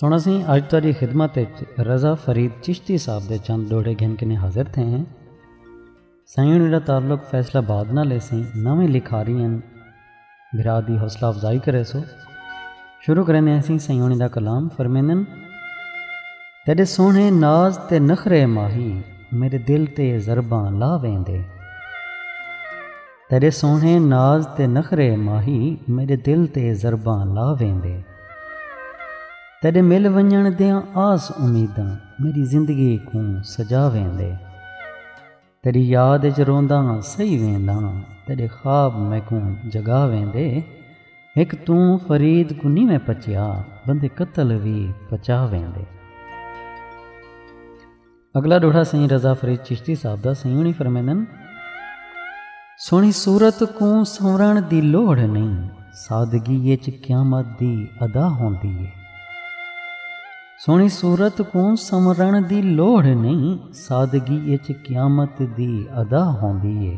سنڑسیں اج تہاڈی خدمت اچ رضا فرید چشتی صاحب دے چند ڈوہڑے گھن کنیں حاضر تھے ہیں۔ سائیں انہاں دا تعلق فیصل آباد نال ہے سئیں نویں لکھاری ہن بھرا دی حوصلہ افزائی کریسو۔ شروع کریندے ہیں سئیں سائیں انہاں دا کلام فرمیندن۔ تیڈے سوہنے ناز تے نخرے ماہی میڈے دل تے ضرباں لا ویندے۔ تیݙے سوہݨے ناز تے نخرے ماہی میݙے دل تے ضرباں لا ویندے تیݙے مل ونڄݨ دیاں آس امیداں میݙی زندگی کوں سجا ویندے تیݙی یاد اچ رونداں سہی وینداں تیݙے خواب میکوں جڳا ویندے ہک توں فرید کوں نی میں پچیا بندے قتل وی پچا ویندے۔ اگلا ڈوہڑا سئیں رضا فرید چشتی صاحب دا سئیں ہونی فرمیندن سونی صورت کوں سنورن دی لوڑھ نہیں سادگی اچ قیامت دی ادا ہوندی ہے سونی صورت کوں سنورن دی لوڑھ نہیں سادگی اچ قیامت دی ادا ہوندی ہے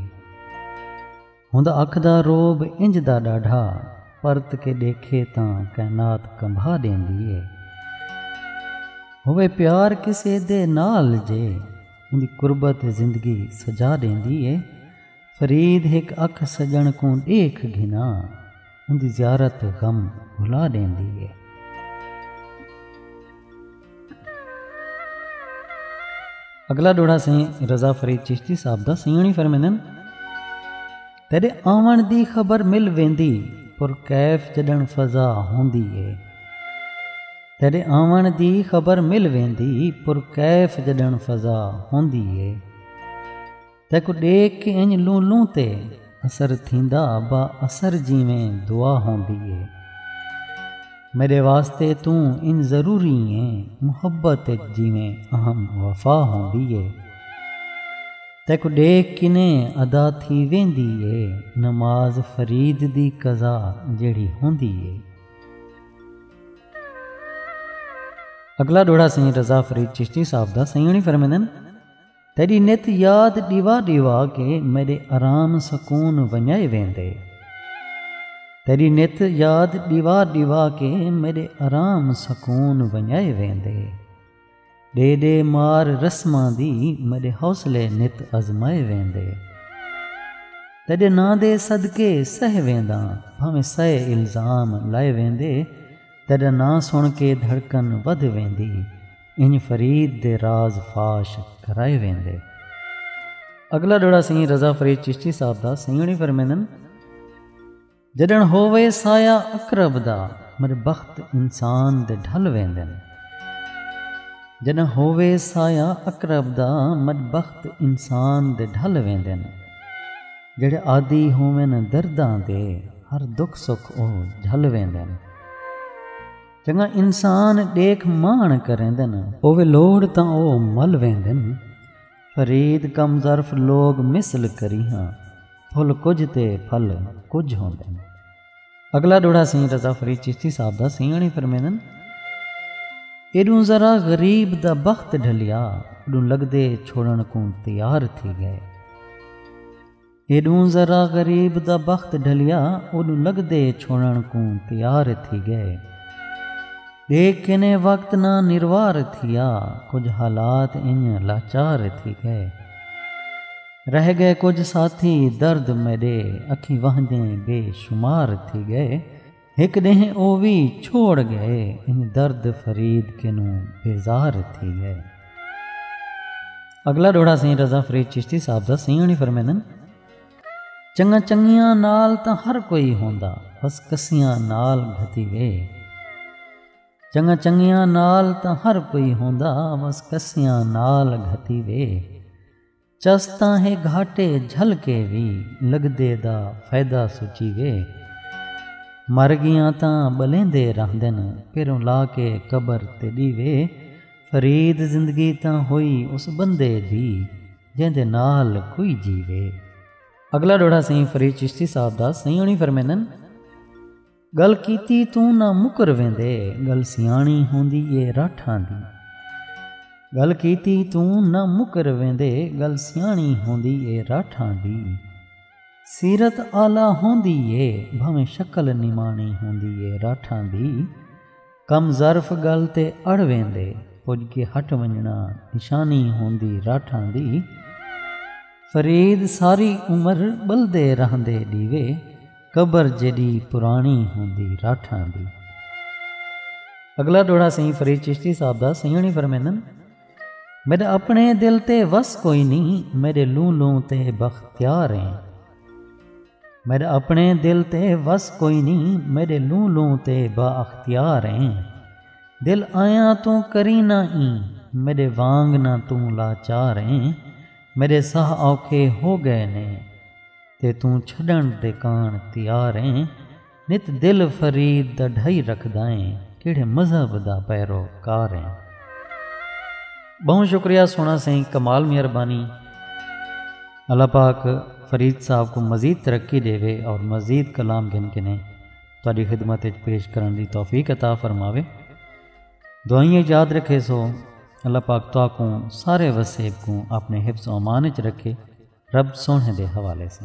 ہوندا اکھ دا رعب انج دا ݙاڈھا پرت کے ݙیکھے تاں کائنات کمبھا ݙیندی اے ہووے پیار کسے دے نال جے اوندی قربت زندگی سجا ݙیندی اے فرید ہک اکھ سڄݨ کوں ݙیکھ گھناں۔ اوندی زیارت غم بھلا ݙیندی اے۔ اڳلا ݙوہڑا سئیں رضا فرید چشتی صاحب دا سئیݨی فرمیندن۔ تیݙے آوݨ دی خبر مل ویندی پر کیف جݙݨ فضا ہوندی اے۔ تیݙے آوݨ دی خبر مل ویندی پر کیف جݙݨ فضا ہوندی اے۔ تیکوں ݙیکھ کے انج لوں لوں تے اثر تھیندا با اثر جیویں دعا ہوندی اے میݙے واسطے توں انج ضروری ایں محبت اچ جیویں اہم وفا ہوندی اے تیکوں ݙیکھ کنے ادا تھی ویندی اے نماز فرید دی قضا جیڑھی ہوندی اے۔ اگلا ݙوہڑا سئیں رضا فرید چشتی صاحب دا سئیں ہوݨی فرمیندن۔ تیݙی نت یاد ݙیوا ݙیوا کے میݙے آرام سکون ونڄائے ویندے تیݙی نت یاد ݙیوا ݙیوا کے میݙے آرام سکون ونڄائے ویندے ݙے ݙے مار رسماں دی میݙے حوصلے نت آزمائے ویندے تیݙے ناں دے صدقے سہ وینداں بھانویں سئے الزام لائے ویندے تیݙا ناں سݨ کے دھڑکن ودھ ویندی انج فرید دے راز فاش کرائے ویندے۔ اگلا ڈوہڑا سئیں رضا فرید چشتی صاحب دا سئیں ہوݨی فرمیندن۔ جݙݨ ہووے سایہ عقرب دا مرے بخت انسان دے ڈھل ویندن۔ جݙݨ ہووے سایہ عقرب دا مرے بخت انسان دے ڈھل ویندن۔ جیڑھے عادی ہوون درداں دے ہر دکھ سکھ او جھل ویندن۔ چنگا انسان ݙیکھ ماݨ کریندن۔ ہووے لوڑھ تاں او مل ویندن۔ فرید کم ظرف لوک مثل کریہاں۔ پھل کجھ تے پھل کجھ ہوندن۔ اڳلا ݙوہڑا سئیں رضا فرید چشتی صاحب دا سئیاݨے فرمیندن۔ ایݙوں ذرا غریب دا بخت ڈھلیا۔ اݙوں لڳدے چھوڑݨ کوں تیار تھی ڳئے۔ ہیݙوں ذرا غریب دا بخت ڈھلیا اوݙوں لڳدے چھوڑݨ کوں تیار تھی ڳئے ݙیکھ کنے وقت نہ نروار تھیا کجھ حالات انڄ لاچار تھی ڳئے رہ ڳئے کجھ ساتھی درد میݙے اکھیں وہندیں بے شمار تھی ڳئے ہک ڈینہہ او وی چھوڑ گئے۔ انج درد فرید کنوں بیزار تھی گئے۔ اگلا ڈوہڑا سئیں رضا فرید چشتی صاحب دا سئیں ہنی فرمیندن۔ چنگاں چنگیاں نال تاں ہر کوئی ہوندا بس کسیاں نال گھتی وے۔ چنگاں چنگیاں نال تاں ہر کوئی ہوندا بس کسیاں نال گھتی وے۔ چس تاں ہے گھاٹے جھل کے وی لگدے دا فیدہ سوچی وے مر گیاں تاں ٻلیندے رہندن پیروں لا کے قبر تیݙی وے فرید زندگی تاں ہوئی اس بندے دی جیندے نال کوئی جیوے۔ اگلا ݙوہڑا سئیں فرید چشتی صاحب دا سئیں ہوݨی فرمیندن۔ گل کیتی توں نہ مکر ویندے گل سیاݨی ہوندی اے راٹھاں دی گل کیتی توں نہ مکر ویندے گل سیاݨی ہوندی اے راٹھاں دی سیرت اعلی ہوندی اے بھانویں شکل نماݨی ہوندی اے راٹھاں دی۔ کم ظرف ڳل تے اڑ ویندے پڄ کے ہٹ ونڄݨا نشانی ہوندی راٹھاں دی فرید ساری عمر ٻلدے رہندے ݙیوے قبر جیݙی پراݨی ہوندی راٹھاں دی۔ اڳلا ݙوہڑا سئیں فرید چشتی صاحب دا سئیں ہوݨی فرمیندن میݙا اپݨے دل تے وس کوئی نی میݙے لوں لوں تے بختیار ایں۔ میݙا اپݨے دل تے وس کوئی نی میݙے لوں لوں تے با اختیار ایں دل آیاں توں کریں نہ ایں میݙے وانگ نہ توں لاچار ایں میݙے ساہ اوکھے ہو ڳئے نے تے توں چھݙݨ دے کاݨ تیار ایں نت دل فرید دا ڈھائی رکھدائیں کیڑھے مذہب دا پیرو کار ہیں۔ بہوں شکریہ سونا سائیں کمال مہربانی اللہ پاک فرید صاحب کو مزید ترقی دے وے اور مزید کلام گھن کے نے تہاڈی خدمت اچ پیش کرن دی توفیق عطا فرماوے دعائیں اچ یاد رکھے سو اللہ پاک تہاکوں سارے وسیب کوں اپنے حفظ و امان اچ رکھے رب سوہنے دے حوالے سے۔